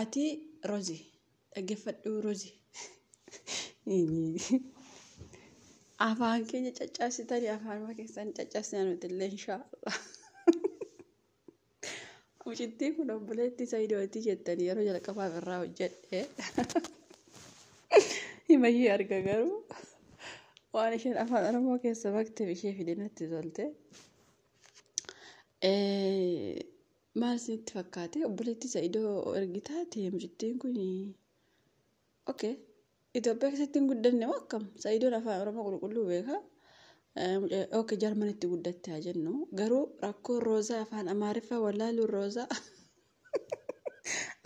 Ati rozi dhagefadhuu rozi. Afaan keenya caccabsitani afaanuma keessan caccabsina nuti illee inshaallah. Mucittii kun obboleettii Sayidooti jettanii yeroo jalqabaaf irraa hojjedhe. Himayyee arga garuu waan isheen afaan Oromoo keessa bakteef ishee fide natti tolte. Maal isinitti fakkaate obboleettii sa'idoo ergitaa teemjittiin kun okay Itoophiyaa keessatti hin guddanne moo akkam sa'idoon afaan oromoo qulqulluu beeka okay jarmanitti guddatte haa jennu garuu rakkoo roozaa afaan amaariffaa wallaaluu roozaa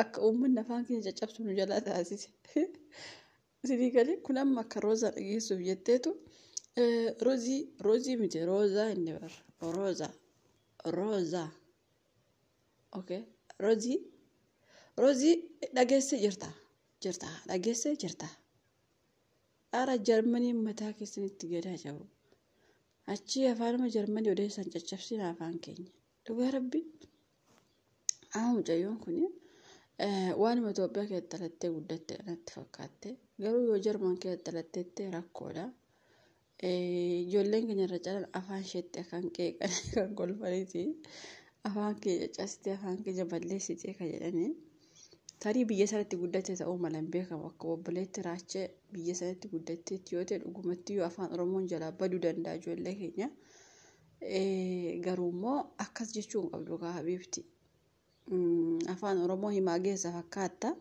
akka uummanni afaan keenya caccabsu nu jalaa taasise Sifii galee kun amma akka roozaa dhageessuuf jetteetu roozii roozii miti roozaa inni bar roozaa roozaa okay roozii roozii dhageessee jirta jirta dhageessee jirta ara jarmanii mataa keessanitti gadaa jiru achii afaanuma jarmanii odeessan caccabsiin afaan keenya Dhugaa rabbi amma mucayyoon kun waanuma Itoophiyaa keessatti dhalattee guddatte kanatti fakkaatte garuu yoo Jarman keessatti dhalattetti rakkoodha. Ijoolleen keenya irra calan afaan isheetti kan qeeqan kan kolfaniiti afaan keenya castee afaan keenya balleessitee kan jedhanii tarii biyya sanatti guddatte ta'uu mala hin beekamu akka obboleetti raachee biyya sanatti guddatteetti yoo ta'e dhugumatti yoo afaan Oromoon jalaa baduu danda'a ijoollee keenya. Garuu immoo akkas jechuu hin qabdu kaa habiibti. Afaan Oromoo himaa geessa fakkaatta.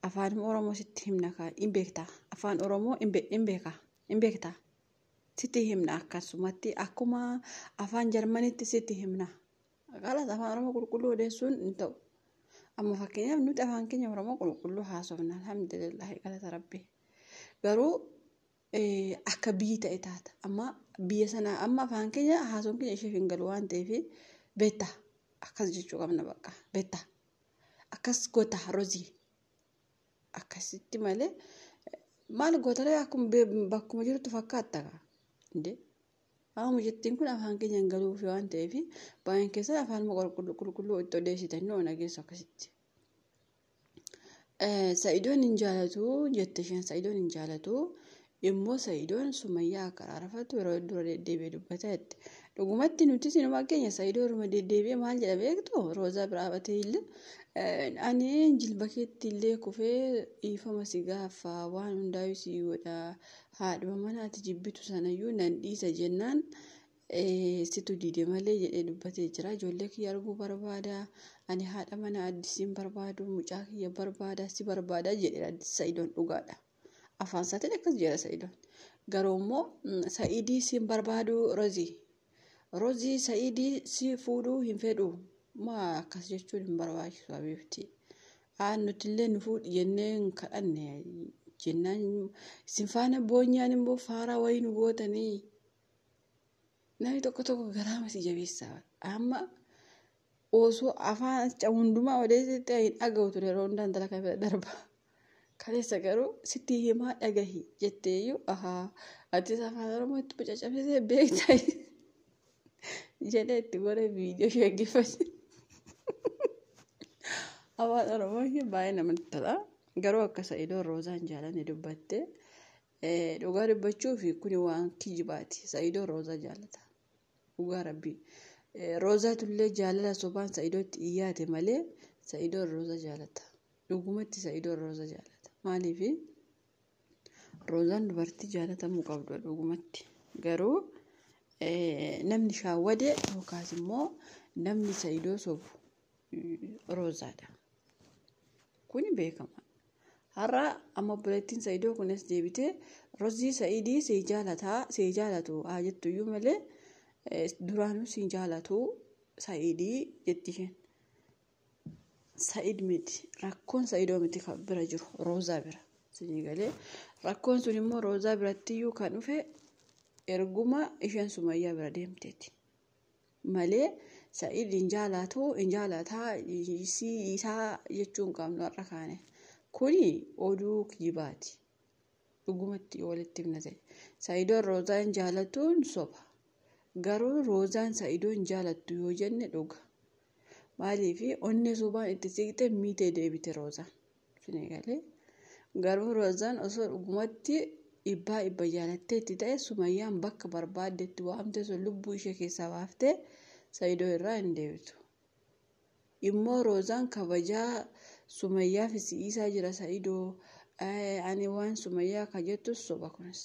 Afaan Oromoo sitti himna kaa hin beektaa. Afaan Oromoo hin beekaa hin beektaa. Sitti himna akkasumatti akkuma afaan Jarmanitti sitti himna. Kalas afaan Oromoo qulqulluu odeessuun hin ta'u. Amma fakkeenyaaf nuti afaan keenya Oromoo qulqulluu haasofna alhamdulillah galata rabbi. Garuu akka biyyi ta'e taata. Amma biyya sana amma afaan keenya haasawuun keenya isheef hin galu waan ta'eef beetta akkas jechuu qabna bakka beetta akkas goota rozii akkasitti malee maal gootalee akkuma be- bakkuma jirtu fakkaatta kaa indee amma jettiin kun afaan keenya hin galuuf waan ta'eef baay'een keessan afaan qulqulluu qulqulluu itti odeessitan ni oona geessu akkasitti. Sa'idoon hin jaalatu jette isheen sa'idoon hin jaalatu immoo sa'idoon sumayyaa akka araarfatu yeroo dura deddeebi'ee dubbata jette. Dhugumatti nuti sinumaa keenya sa'idoo irra deddeebi'ee maal jedha beektu roozaa biraa batee illee ani jilba keetti illee kufee dhiifama si gaafa waan hundaa'u si godha haadhuma manaati jibbitu sanayyuu nan dhiisa jennaan situ diide malee jedhee dubbatee jira. Ijoollee kiyya arguu barbaada. Ani haadha mana addisiin barbaadu mucaa kiyya barbaada si barbaada jedheera sa'idoon dhugaadha. Afaan isaatiin akkas jedha sa'idoon. Garuu immoo sa'idii siin barbaadu rozii. Rozii sa'idii si fuudhuu hin fedhu. Maa akkas jechuun hin barbaachisu abiibti. Aan nuti illee nu fuudhi jennee hin kadhanne jennaan isin faana boonyaan immoo faaraa wayii nu gootanii Namni tokko tokko garaama si jabeessaa bara. Amma osoo afaan acha hundumaa odeessitti hin dhaga'u ture yeroo hundaa intala kana bira darba. Kaleessa garuu sitti himaa dhagahi jettee iyyuu ahaa atis afaan oromoo itti bucacabsisee beektaa jedhee itti godhee viidiyoo sheeggiffachi. Afaan oromoo ishee baay'ee namatti tola. Garuu akka sa'idoon roozaan jaalanii dubbattee Dhugaa dubbachuuf kuni waan kijibaati. Sa'idoo Roozaa jaalata. Dhugaa rabbii. Roozaatullee jaalala sobaan Sa'idootti iyyaate malee Sa'idoo Roozaa jaalata. Dhugumatti Sa'idoo Roozaa jaalata. Maaliif Roozaan dubartii jaalatamuu qabdu dhugumatti. Garuu namni shaawwade yookaas immoo namni Sa'idoo sobu roozaadha. Kuni beekama. Har'a amma obboleettiin Sa'idoo kunis deebitee rozii Sa'idii sii jaalataa sii jaalatu haa jettu iyyuu malee duraanuu sii jaalatu Sa'idii jetti isheen. Sa'id miti rakkoon Sa'idoo miti kan bira jiru roozaa bira. Sinii galee rakkoon sun immoo roozaa biratti iyyuu kan dhufe erguma isheen sumayyaa bira deemteeti. malee sa'id hin jaalaatu hin jaalaataa isii isaa jechuu hin qabnu har'a kaane kuni oduu kijibaati dhugumatti yoo walitti himna ta'e sa'idoon roozaa hin jaalatuun soba garuu roozaan sa'idoo hin jaalattu yoo jenne dhuga maaliif onnee sobaan itti siqte miitee deebite roozaan. Isinii galee. Garuu Rozaan osoo dhugumatti dhibbaa dhibba jaalattee itti ta'e Sumayyaan bakka barbaadde itti waamtee sun lubbuu ishee keessaa baaftee Sayidoo irraa hin deebitu. Immoo Rozaan kabajaa Sumayyaaf si dhiisaa jira Sayidoo ani waan Sumayyaa ka jettus soba kunis.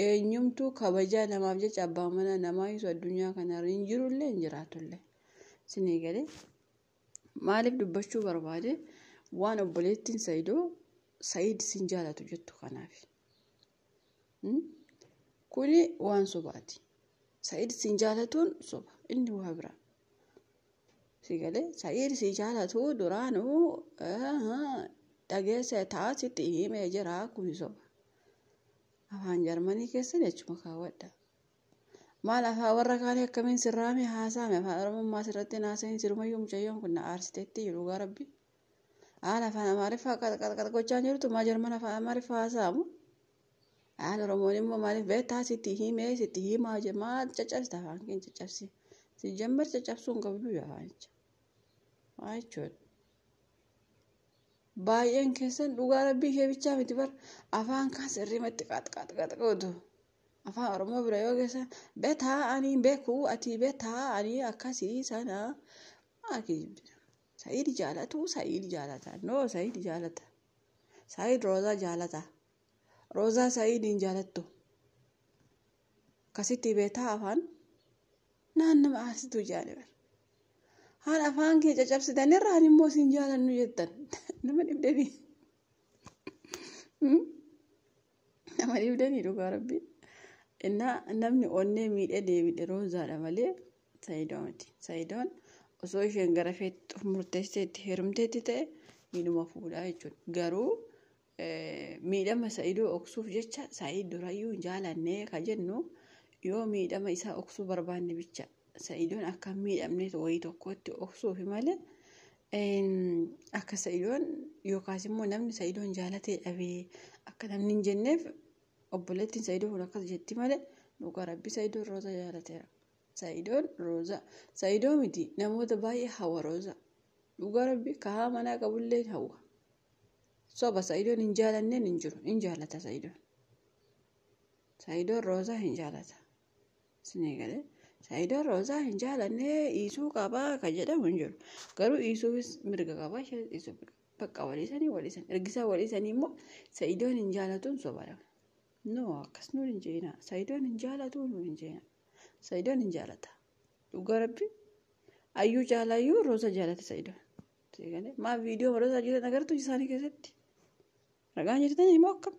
Eenyumtuu kabajaa namaaf jecha abbaa manaa namaa isu addunyaa kanarra hin jirullee hin jiraatullee. Isinii galee. Maaliif dubbachuu barbaade waan obboleettiin Sayidoo Sayid sin jaalatu jettu kanaaf. Kuni waan sobaati. Sayid sin jaalatuun soba. Inni waa biraa. Sigalee Sayid si jaalatu duraanuu dhageessa ta'a sitti himee jira kuni soba. Afaan Jarmanii keessan jechuma kaawwadha. Maal afaa warra kaanii akkamiin sirraame haasaame afaan oromummaa sirratti hin haasa'iin sirumayyuu mucayyoon kun na aarsiteetti jedhu dhugaa rabbi. Haala afaan amaariffaa qalqalqal gochaa jirtu maa jarman afaan amaariffaa haasa'amu. Haala oromoon immoo maaliif beektaa sitti himee sitti himaa je maal caccabsita afaan keen caccabsi. Si jammar caccabsuu hin qabdu yaa afaanicha. Waa jechuudha. Baay'een keessan dhugaa rabbii ishee bichaa miti bar afaan kaan sirriimatti qaxqaxqaxqootu. afaan oromoo bira yoo geessa betaa anii bekuu atii betaa anii akkasii sana akii sa'iid jaalatu sa'iid jaalata noo sa'iid jaalata sa'iid roozaa jaalata roozaa sa'iidiin jaalattu akkasitti betaa afaan naan nama aarsitu jaani bar haan afaan kee cacabsitan irra haan immoo siin jaalannu jettan nama dhibdanii Nama dhibdanii dhugaa rabbi. Innaa namni onnee miidhee deebidhe roozaadha malee saayidoo miti. Saayidoon osoo isheen gara feetti murteessee itti heerumteetti ta'e miidhuma fuudhaa jechuudha. Garuu miidhama saayidoo oksuuf jecha saayid durayyuu hin jaalannee ka jennu yoo miidhama isaa oksuu barbaanne bicha. Sa'idoon akka hin miidhamneet wayii tokkotti obsuufi malee akka sa'idoon yookaas immoo namni sa'idoon jaalatee dhabee akka namni hin jenneef obboleettiin sa'idoo kun akkas jetti malee dhugaa rabbi sa'idoon rooza jaalateera. Sa'idoon rooza sa'idoo miti namoota baay'ee hawa rooza dhugaa rabbi kahaa manaa qabullee hawa. Soba sa'idoon hin jaalanneen hin jiru hin jaalata sa'idoon. Sa'idoon rooza hin jaalata Isinii galee Saayidoo Roozaa hin jaalannee dhiisuu qabaa ka jedhamu hin jiru. Garuu dhiisuufis mirga qabaa ishee dhiisuu mirga. Bakka waliisanii waliisan. Ergisaa waliisanii immoo Saayidoon hin jaalatuun sobara. No akkas nuun hin jeena. Saayidoon hin jaalatuu nuun hin jeena. Saayidoon hin jaalata. Dhugaa rabbi ayyuu caalaa iyyuu Roozaa jaalata Saayidoon. Isinii galee maa viidiyoo Roozaa jiran agartu isaanii keessatti. Ragaan jirtanii immoo akkam.